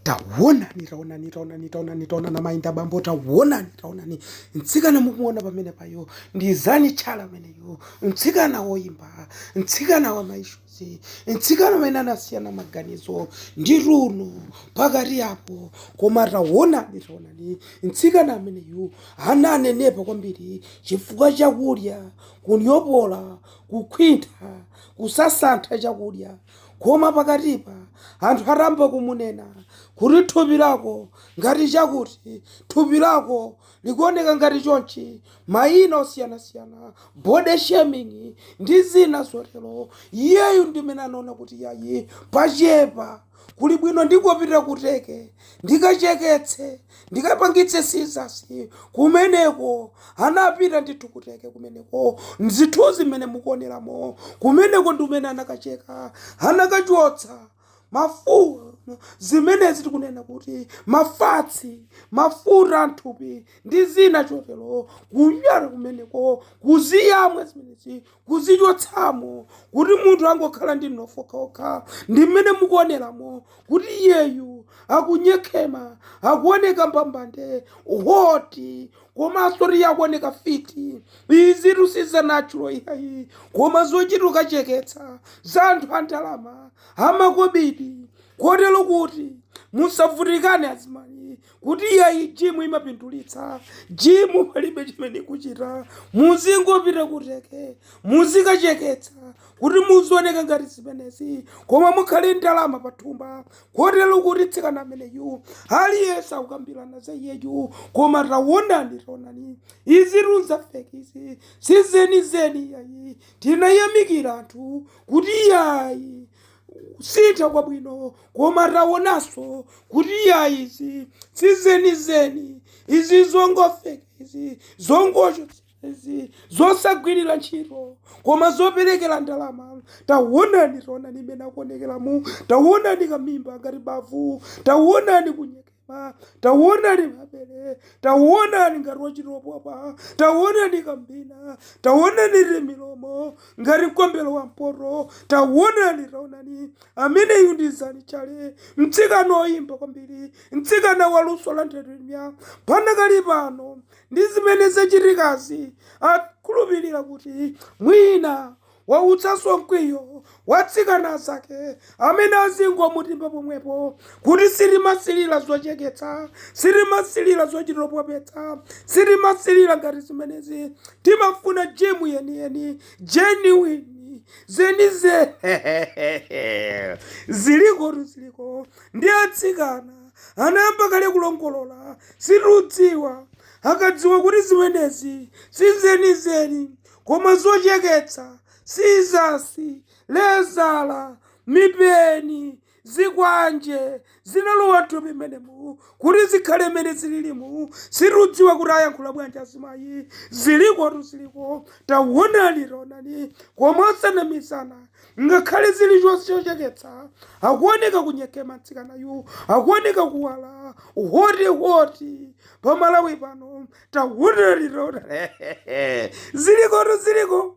taonani taonani taonani taonani taonani madam ndi bambo taonani taonani mtsikana mukumuona pamene payo ndi Zani Challe ameneyo mtsikana woyimba mtsikana wa maishuzi mtsikana amene anasiyana maganizo ndi Tuno pakati apo koma taonani taonani mtsikana ameneyu ananenepa kwambiri chifukwa chakudya kunyopola kukhwintha kusasantha chakudya koma pakatipa anthu atayamba kumunena kuti thupi lako ngati chakuti thupi lako likuoneka ngati chonchi mayina osiyanasiyana body shaming ndi zina zotero iyeyu ndimene anaona kuti yayi pachepa kuli bwino ndingopita ku Turkey ndikacheketse ndikapangitse sizasi kumeneko anapita ndithu ku Turkey kumeneko mzithunzi mmene mukuoneramo kumeneko ndi mmene anakacheka anakachotsa mafuta zimenezi tikunena kuti mafatsi mafuta amthupi ndi zina chotero kunyala kumeneko kuziyamwa zimenezi kuzichotsamo kuti munthu angokhala ndi mnofu wokhawokha ndi mmene mukuoneramo kuti iyeyu akunyekhema akuoneka mbambande hoti komanso kuti akuoneka fiti izitu si za natural iyayi koma zochita kukacheketsa za anthu a ndalama amakobiri kotero kuti musavutikane azimayi kuti iyayi jimu imapindulitsa jimu palibe chimene ikuchita muzingopita ku Turkey muzikacheketsa kuti muzioneka ngati zimenezi koma mukhale ndalama pathumba kotero kuti mtsikana ameneyu aliyense akukambirana za iyeyu koma taonani taonani izitu nza feki izi sizenizeni iyayi tinayamikira anthu kuti iyayi kusintha kwabwino koma taonanso kuti iyayi izi sizenizeni izi zongofeka izi zongochotsa izi zosagwirira ntchito koma zoperekera ndalama tawonani taonani mmene akuonekeramu tawonani kamimba ngati mavu tawonani kunyeke pa tawonani mabele tawonani ngati wachitopopa tawonani kambina tawonani timilomo ngati mkombelo wa mpoto tawonani tawonani ameneyu ndi Zani Challe mtsikana oyimba kwambiri mtsikana wa luso la nthetemya panakali pano ndi zimene zachitikazi akukhulupirira kuti mwina Wautsanso mkwiyo wa atsikana azake amene azingomutimba pomwepo kuti sitimasilira zocheketsa, sitimasilira zochitopopetsa, sitimasilira ngati zimenezi. Timafuna gym yeniyeni, genuine, zenizeni. Zilikotu ziliko ndi atsikana anayamba kale kulongolola sitidziwa akadziwa kuti zimenezi si zenizeni. koma zocheketsa, scissors, lezala, mipeni, zikwanje zinalowa mthupi mmenemu kuti zikhale mmene zililimu sitidziwa kuti ayankhula bwanji azimayi ziliko tu ziliko tawonani taonani koma osanamizana ngakhale zili choncho chocheketsa akuoneka kunyekema mtsikanayu akuoneka kuwala hoti hoti pa Malawi pano takuonera litaonera zilikotu ziliko